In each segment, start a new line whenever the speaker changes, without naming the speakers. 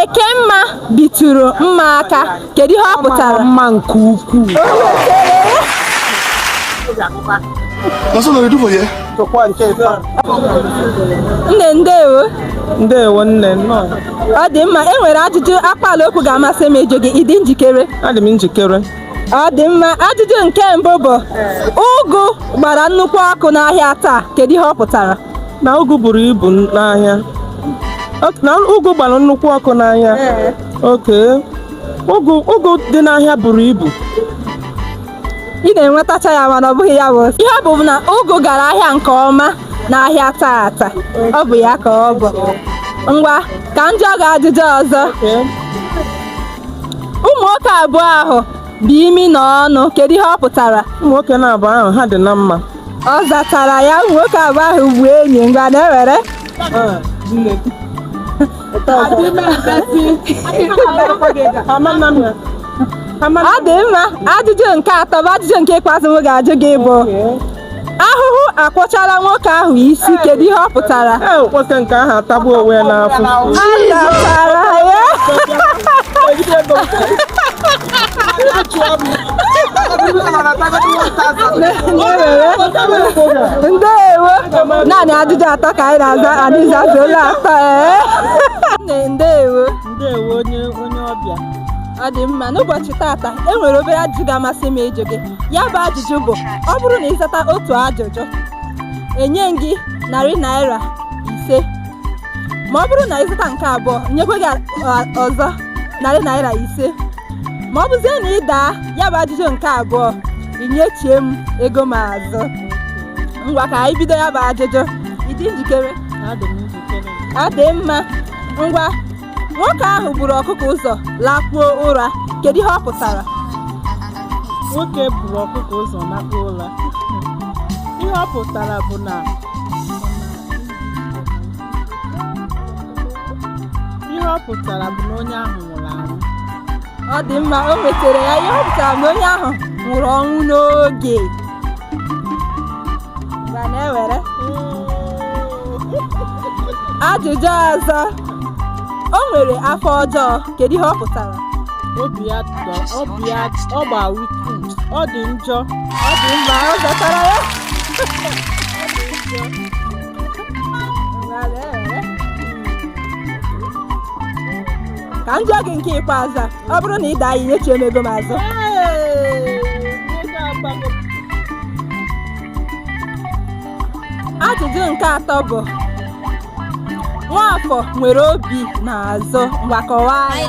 Ekemma bitụrụ mma aka kedu ihe ọ pụtara mma
nke
ukwuu nne ndewo ndewo
nne nnọọ ọ dị mma
e nwere ajụjụ akpaala okwu ga-amasị m ịjụ gị ị dị njikere adị m
njikere ọ dị mma
ajụjụ nke mbụ bụ ụgụ gbara nnukwu ọkụ n'ahịa taa kedu ihe ọ pụtara na ụgụ
buru ibu n'ahịa Ok, na ụgụ gbara nnukwu ọkụ n'ahịa Ee. Ok ụgụ ụgụ dị n'ahịa buru ibu
ị na-enwetacha ya mana ọ bụghị ya bụ ihe ọ bụ na ụgụ gara ahịa nke ọma n'ahịa taata ọ bụ ya ka ọ bụ ngwa ka m jụọ gị ajụjụ ọzọ Ee. ụmụ nwoke abụọ ahụ bụ imi na ọnụ kedu ihe ọ pụtara ụmụ nwoke naabọ ahụ
ha dị na mma ọ
zatara ya nwoke abụọ ahụ bụ enyi ngwa na-ewere ọ dị mma ajụjụ nke atọ bụ ajụjụ nke ikpeazụ m ga-ajụ gị bụ ahụhụ akwọchala nwoke ahụ isi kedu ihe ọ pụtara e nwoke nke
ahụ atagbuo onwe ya n'afụfụ ọ zatara ya
ndewo naanị ajụjụ atọ ka anyị na-aza anyị zazuola atọ ee ndewo ndewo onye
onye ọbịa ọ dị
mma n'ụbọchị tata e nwere obere ajụjụ ga-amasị m ịjụ gị ya bụ ajụjụ bụ ọ bụrụ na ị zata otu ajụjụ enye m gị narị naira ise ma ọ bụrụ na ị zata nke abụọ nyekwe gị ọzọ narị naira ise ma ọ bụzie na ị daa ya bụ ajụjụ nke abụọ i nyechie m ego m azụ ngwa ka anyị bido ya bụ ajụjụ ị dị njikere ọ dị mma ngwa nwoke ahụ buru ọkụkọ ụzọ lakpuo ụra kedu ihe ọ pụtara
nwoke buru ọkụkọ ụzọ lakpuo ụra ihe ọ pụtara bụ na ihe ọ pụtara bụ na onye ahụ nwụrụ anwụ ọ
dị mma o nwetara ya ihe ọ pụtara na onye ahụ nwụrụ ọnwụ n'oge ngwa na-ewere ajụjụ ọzọ o nwere afọ ọjọọ kedu ihe ọ pụtara obi
ya dọ- obi ya ọ gba wicked ọ dị njọ ọ dị mma
ọ zatara ya ka m jụọ gị nke ikpeazụ a, ọ bụrụ na ị daa ya nyechie m ego m azụ ajụjụ nke atọ bụ nwafọ nwere obi n'azụ ngwa kọwaa ya.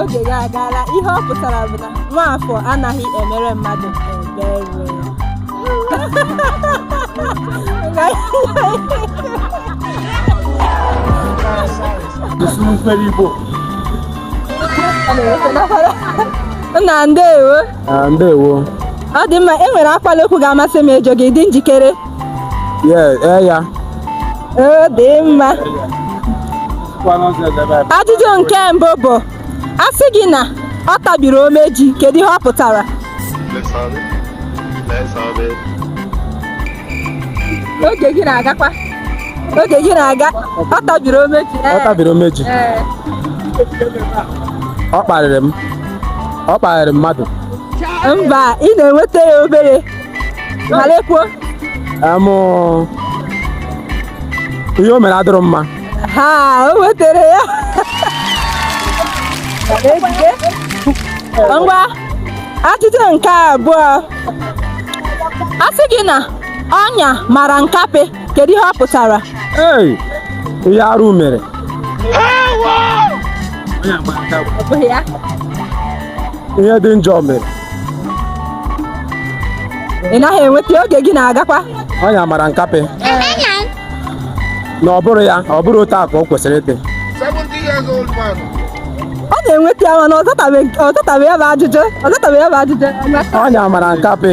oge gị agaala ihe ọ pụtara bụ na nwaafọ anaghị emere mmadụ ebere Nna ndewo Ah,
ndewo. Ọ dị
mma, e nwere akpala okwu ga-amasị m ịjụ gị, ị dị njikere? Yes, ee
ya.
Ọ dị mma. Ajụjụ nke mbụ bụ, a sị gị na ọ tabiri omeji, kedu ihe ọ pụtara? Oge gị na-agakwa. oge gị na-aga ọ tabiri omeji ọ tabiri omeji
ọ kparịrị m ọ kparịrị mmadụ mba
ị na-enweta ya obere malekwuo amụ
ihe o mere adịrọ mma ha o
nwetara ya ngwa ajụjụ nke abụọ a sị gị na Ọnya mara nkapị, kedu ihe ọ pụtara?
Ee, ihe arụ mere. Ihe dị njọ mere.
Ị naghị enweta ya, oge
gị
na-agakwa.
Ọnya mara nkapị. Na ọ bụrọ ya, ọ bụrọ otu a ka o kwesịrị
ịdị. Ọ
na-enweta ya mana ọ zatabeghị ya bụ ajụjụ.
Ọnya mara nkapị.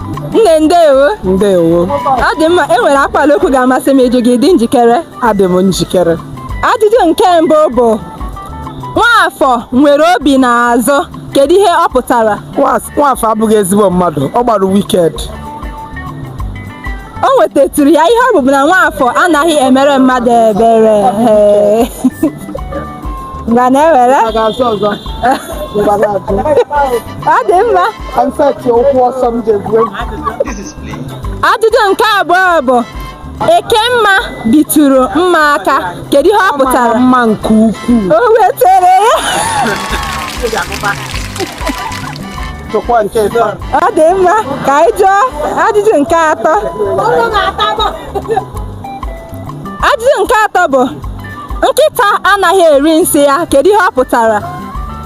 nne ndewo
ndewo ọ dị mma
e nwere akpala okwu ga-amasị m ịjụ gị ị dị njikere adị m
njikere ajụjụ nke
mbụ bụ nwaafọ nwere obi n'azụ kedu ihe ọ pụtara nwaafọ abụghị
ezigbo mmadụ ọ gbara
wicked o nwetatụrụ ya ihe ọ bụ bụ na nwaafọ anaghị emere mmadụ ebere ngwa na-ewere ọ dị mma ajụjụ nke abụọ bụ ekemma bitụrụ mma aka kedu ihe ọ pụtara mma nke ukwuu
o nwetara
ya jụkwa nke ịtọ ọ dị mma ka anyị jụọ ajụjụ nke atọ ajụjụ nke atọ bụ nkịta anaghị eri nsị ya kedu ihe ọ pụtara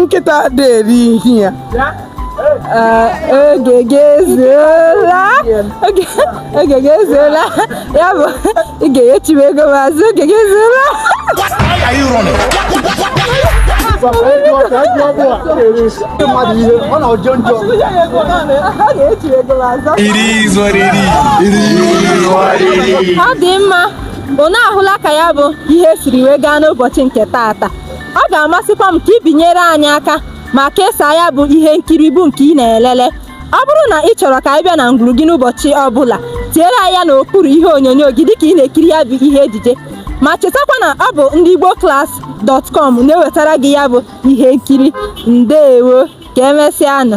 nkịta adị eri ihe ya
oge gị ezuola oge gị ezuola ya bụ ị ga-enyechiwe ego m azụ oge gị ezuola ọ dị mma unu ahụla ka ya bụ ihe siri wee gaa n'ụbọchị nke taata ọ ga-amasịkwa m ka ị binyere anyị aka ma kesaa ya bụ ihe nkiri bụ nke ị na-elele ọ bụrụ na ị chọrọ ka anyị bịa na ngwuru gị n'ụbọchị ọ bụla tiere anyị ya n'okpuru ihe onyonyo gị dịka ị na-ekiri ya bụ ihe ejije ma chetakwa na ọ bụ ndị Igbo Class dot com na-ewetara gị ya bụ ihe nkiri ndeewo ka emesịanụ